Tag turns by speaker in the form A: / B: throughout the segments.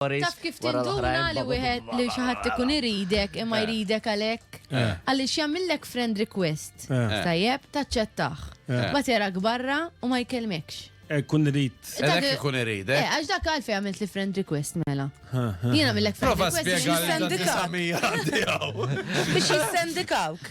A: Taf kif tinduna li wieħed li xi ħadd ikun iridek imma eh. jridek għalhekk? Eh. Għaliex jagħmillek friend request. Eh. Tajjeb, taċċettaħ. Ma terak barra u ma jkellmekx. Kun irid.
B: Għalhekk ikun irid.
C: Għax dak għalfej għamilt
A: li friend request mela. Jiena millek friend request. Prova spjega għal 900
C: għaddijaw.
D: Biex jissendikawk.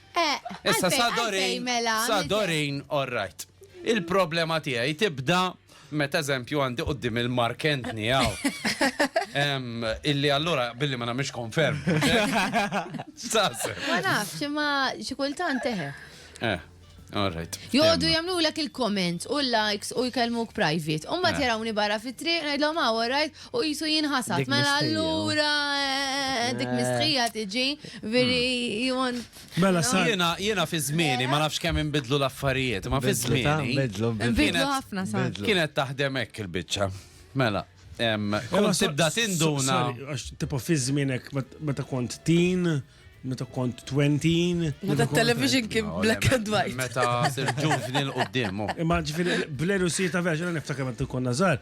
C: Issa sa Dorin, sa Dorin, all right. Il-problema tiegħi tibda meta eżempju għandi qoddim il-Mark Anthony għaw. Illi allura billi ma namiex konferm. Sase. Ma nafx,
A: ma xikultan teħe. Eh, all
C: right. Jodu jamlu l
A: il-comments u l-likes u jkellmuk private. Umma eh. tirawni barra fit-triq, najdlom għaw, ah, all right. u jisu jinħasat. Mela allura eh, dik eh. mistħija tiġi, veri hmm. jimon. Mela sa. Jena,
B: jena fi zmini,
C: ma nafx kemm imbidlu l-affarijiet, ma fi zmini. Imbidlu ħafna
A: sa. Kienet taħdem hekk
C: il-bicċa. Mela. Kont tibda tinduna. Tipo fi
B: zminek, meta kont tin, meta kont 20. Meta television
D: kien black and white. Meta sir
C: ġuvni l-qoddim. Oh. Imma ġifiri,
B: bleru si ta' vera, ġena niftakar meta konna zar,